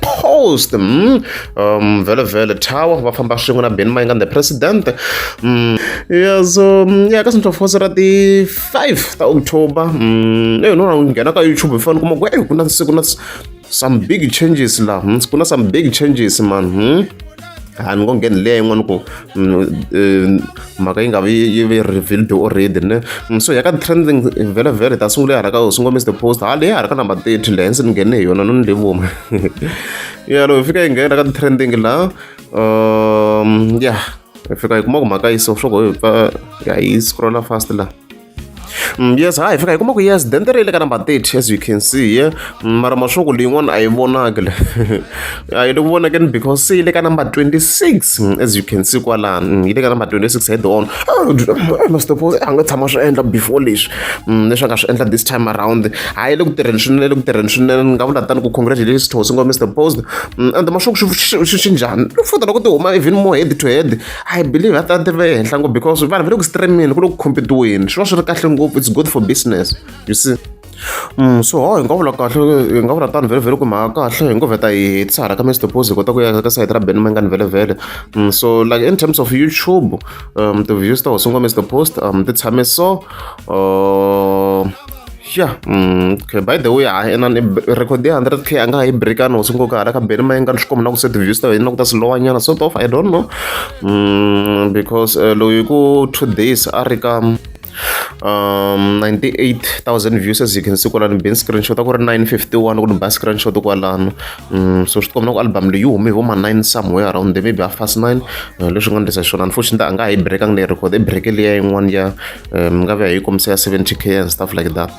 post mm, um, vele vele tower va famba swin'we na ben mayinga the president mm, ya so mm, ya ka central force ra ti 5 ta october mm, eyi nona nghena ka youtube hi fanele kuma ku eyi ku na siku na some big changes laha hmm, ku na some big changes man hmm? a ni ngo ngheni leya yin'wana ku mhaka yi nga vi yi ve revealed already ne so ya ka trending vhele vhele ta sungula ya hala ka sungula mr post ha leyi hala ka number thirty leyi ndzi ni nghene hi yona no ni levuma ya loko hi fika yi nghena ka trending la um ya hi fika hi kuma ku mhaka yi so swo go hi pfa ya yi scrolla fast la Mm, yes ha hi fika hi kuma ku yes dente ri le ka number 30 as you can see ye mm, mara mashoku leyin'wana a yi vonaki le a yi le ku vonakeni because se yi le ka number 26 mm, as you can see kwalani yi le ka number 26 head on mastopos a nga tshama swi endla before leswi leswi a nga swi endla this time around ha yi le ku tirheni swinene le ku tirheni swinene ni nga vula tani ku congratulations to singo mr post and mashoku swi njhani u fanele ku ti huma even more head to head I believe va ta va ehenhla ngopfu because vanhu va le ku streamini ku le ku competiweni swi va swi ri kahle ngopfu it's good for business you see Mm, so ho hi nga vula kahle hi nga vula tani vhelevhele ku mhaka kahle hi ngo vheta hi hetisa hala ka mr pose hi kota ku ya ka sayiti ra ben mangani vhelevhele mm, so like in terms of youtube um ti-views ta ho sungula mr post um ti tshame so uh, ya mm, okay by the way hayi ena record ya 100 k a nga ha yi breakana hosi nkoka hala ka beni ma yi nga ni swi khoma na ku set views ta wena ku ta swi lowa nyana sort of i don't know mm, because uh, loyi ku two days a ri ka um 98000 views as you can see kwalano bin screenshot a ku ri 951 ku ni ba screenshot kwalano um so swi tikomba ku album leyi hume hi voma 9 somewhere around there maybe half past 9 eh, leswi nga ndlisa xona unfortunately a nga ha yi breakanga leyi record i breke leya yin'wana ya um, ngabe ayikomisa ya 70k and stuff like that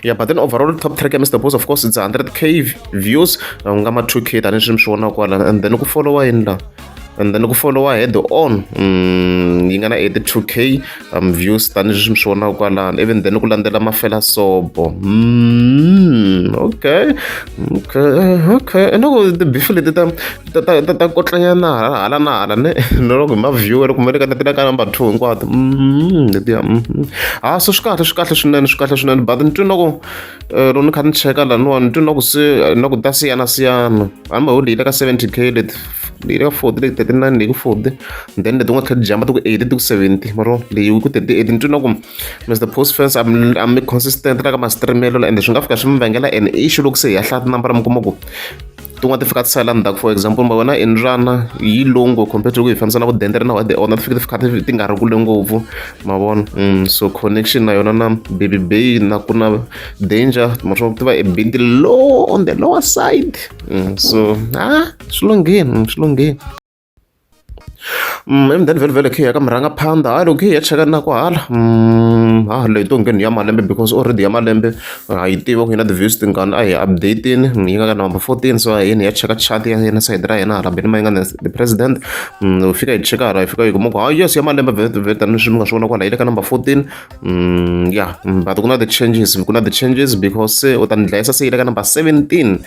yeah but then overall top track ya mr boss of course it's 100k views uh, nga ma 2k tanihileswi mi swi vonaka kwala and then ku followa yini la and then ku followa head on um, yi nga na 82k um, views tanihileswi mi swi vonaka kwalani even then ku landzela mafela sobo mm, okay okay okay and loko tibifu leti ta ta ta ta ta kotlanyana hala hala na hala ne na loko hi ma-viewer kumbe ni ka ni ti ka number two hinkwato letiya ha so swi kahle swi kahle swinene swi kahle swinene but ni twi na ku loko ni kha ni cheka laniwa ni twi na ku se na ku ta siyana siyana hambi ho leyi le ka seventy k leti leyi le ka forty leti thirty nine leyi ku forty then leti nga tlhela ti jamba ti ku eighty ti ku seventy maro leyi ku thirty eight ni twi na ku mr post fans a mi a mi consistent la ka ma-streamelo ende swi nga fika swi mi vangela an issue loko se hi ya hlaya tinambara mi kuma ku tin'wana ti fika ti sala ndzhaku for example ma vona indrana yi low ngopfu compared to ku hi fambisana ku dendere na wade ona ti fike ti fika ti nga ri kule ngopfu ma vona mm, so connection na yona na baby bay na ku na danger ma swa ti va e binti low on the lower side mm, so a ah, swi lungheni mm, swi lungheni and then vhele vhele khe ya ka murhanga phanda ha loko khe ya cheka na kwahala ha leyi to ngheni ya malembe because already ya malembe ha yi tiva ku yi na ti-views tingani a hi updatini yi nga ka number fourteen so yini ya cheka chat ya yena sayiti ra yena hala beni ma yi nga na the president u fika yi cheka hala yi fika yi kuma ku ha yes ya malembe vetani swi mi nga swi vona kwala yi le ka number fourteen ya but ku na ti-changes ku na ti-changes because se u ta ni dlayisa se yi le ka number seventeen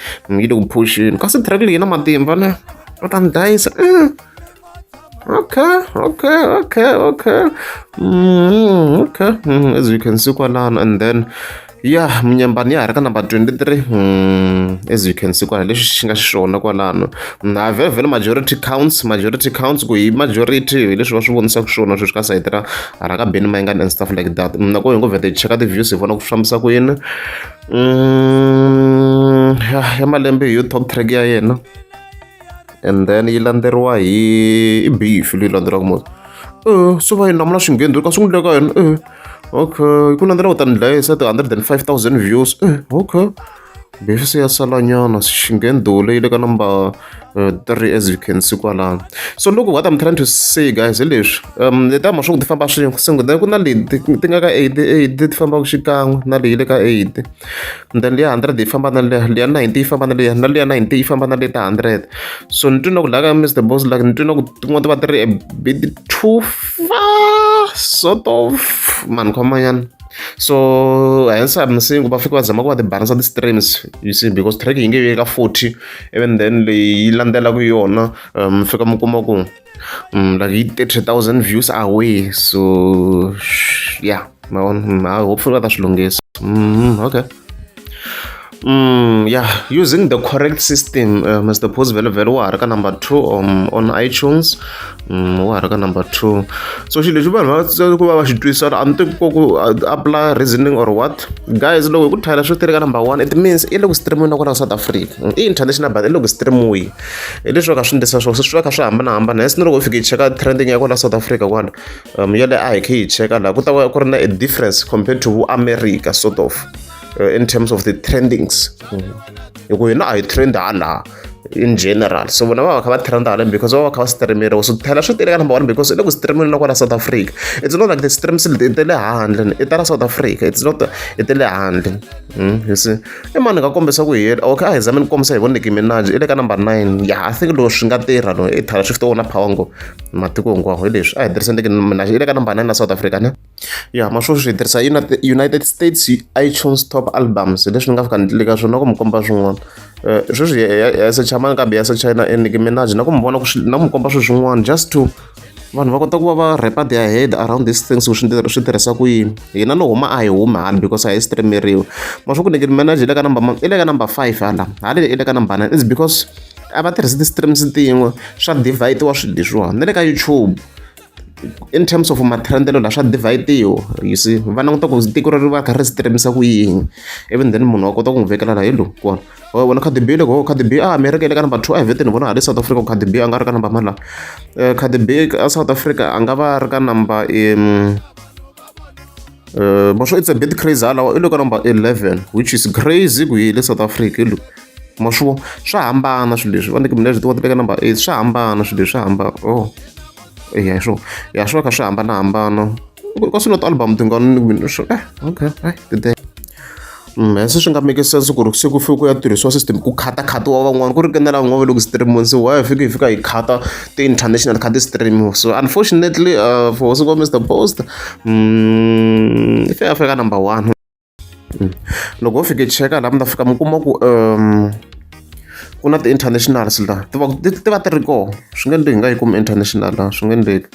yi le ku phuxini kasi track leyi na matimba ne Well done, Daisy. Mm. Okay, okay, okay, okay. Mm, okay. Mm, as you can see, Kwanan, and then ya munyambani ya ha ri ka number 23 hmm, as you can see kwalano leswi xi nga xiswona kwalano hmm, a vhele majority counts majority counts ku hi majority hi leswi va swi vonisaka swona sweswi ka sayiti ra hala ka beni mayingani and stuff like that hmm, nako hi ngo vheta hi cheka ti-views hi vona ku fambisa ku yini ya malembe hi yo top track ya yena and then yi landzeriwa hi i beef leyi landzelaka mos e swi va yi namula swingheni ka swi n'wi leka yena e okay ku landzela ku ta ni dlaya se ti-hundred and five thousand views e okay beef se ya salanyana xingheni dole yi le ka number eh, three as you can see kwalano so look what i'm trying to say guys hi leswi um leti ama swi ku ti famba swin'we singo then ku na leti ti nga ka eight eight ti fambaka xikan'we na leyi le ka eight ndlela liya hundred yi famba na liya liya ninety yi famba na liya na liya ninety yi famba na liya ta hundred so ni twi na ku laka mr boss like ni twi na ku tin'wana ti va ti ri a bit too far sort of mani khomanyana so hence i'm saying ku va fike va zama ku va tibalansa ti-streams you see because track yi nge yi ka forty even then leyi yi landzelaku yona um fika mi kuma ku like yi thirty thousand views away so ya ma vona mm, ha hopefully va ta swi lunghisa mm, okay Mm, yeah, using the correct system, uh, Mr. Pose Velo Velo wa ha ka number two um, on iTunes mm, wa ha ka number two so xilo lexi vanhu va tsaka ku va va xi twisisa a ni tivi ku apply reasoning or what guys loko hi ku thayela swo tirheka number one it means i le ku streamiwi na kwala south africa i international but i le ku streamiwi hi leswi va ka swi ndlisa swona swi va kha swi hambanahambana hesi ni loko u fika yi cheka trending ya kwala south africa kwala um ya le a hi khe yi cheka laha ku ta va ku ri na a difference compared to vo america sort of uh, in terms of the trendings mm. hi ku hina a hi trend halaha in general so vona va va kha va trenda haleni because va va kha va streameriwa so thela swi tele ka number one because i le ku streameni na kwala south africa it's not like the streams i te le handle i ta la south africa it's not i te le handle Mm, you see i mani nga kombisa ku hiyela okay a hi zame ni kombisa hi voneki minaji i le ka number nine ya i think loko swi nga tirha no i thala shift wona power ngo matiko hinkwawo hi leswi a hi tirhisa ndeke minaji i le ka number nine na south africa ne ya ma sweswi hi tirhisa united states itunes top albums leswi ni nga fika ni le ka swona ku mi komba swin'wana eh, sweswi ya secha mani kambe ya secha na eniki minaji na ku mi vona ku na ku mi komba sweswin'wana just to vanhu va kota ku va va rapa their head around these things ku swi tirhisa ku yini hina no huma a hi humi hala because a hi streameriwe ma swi ku nekeni manager le ka number i le ka number five hala hala i le ka number nine is because a va tirhisi ti-streams tin'we swa divide wa swidyi swiwani na le ka youtube in terms of matrendelo la swa divide-iwa you see va languta ku tiko ri va kha ri streamisa ku yini even then munhu wa kota ku n'wi vekela la hi lo kona wa vona Cardi B loko Cardi B a America le ka number 2 a vete ni vona hale South Africa Cardi B a nga ri ka number mala eh, Cardi B a South Africa a nga va ri ka number um uh, masho it's a bit crazy halawa i le ka number 11 which is crazy ku yi le South Africa lo mashuvo swa hambana swilo leswi va ni mina leswi tiwa ti le ka number 8 swa hambana swilo leswi swa hambana oh eya hi swona ya swi va kha swi hambanahambana ka swi not album ti nga ni mina swi eh okay ai today mm, se swi nga make sense ku ri se ku fike ku ya tirhisiwa system ku khata khata wa van'wana ku ri kenela n'wana loko streamiwa se why fike hi fika hi khata ti-international khata streamiwa so unfortunately uh, for siko mr post um mm, i fika fika number one mm. loko ho fike cheka laha mi ta fika mi kuma ku um ku na ti-internationals laha ti va ti ti va ti ri kona swi nge endleki hi nga yi kumi international laha swi nge endleki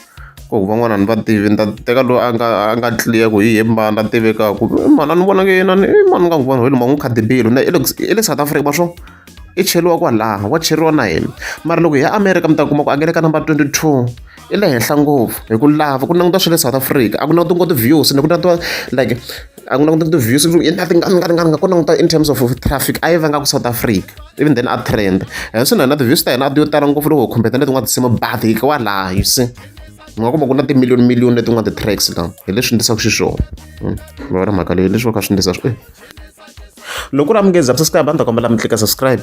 ko ku van'wana ni va tivi ni ta teka loyi a nga a nga clear ku hi ye mbana a tivekaku eh, mhana ni vona nge yena ni eh, mani nga n'wi vona wena ma n'wi khadibile na i le south africa va swo i cheriwa kwalaha wa cheriwa na hina mara loko hi ya america mi ta kuma ku a nge le ka number twenty two i le henhla ngopfu hi ku lava ku languta swa le south africa a ku languti ngo ti-views ni ku languta like a ku languta ti-views nga ku languta in terms of traffic a yi vanga ku south africa even then a trend and so na na ti-views ta hina a ti yo tala ngopfu loko hi khumbeta letin'wana tinsimu but hi wa laha you see nga kuma ku na timiliyoni miliyoni leti nga ti-tracks la hi leswi ndisaka xiswona hmm. va ri mhaka leyi leswi va kha swi ndisa swi eh. loko u ri amukezi subscribe a ni ta kombela mi tlika subscribe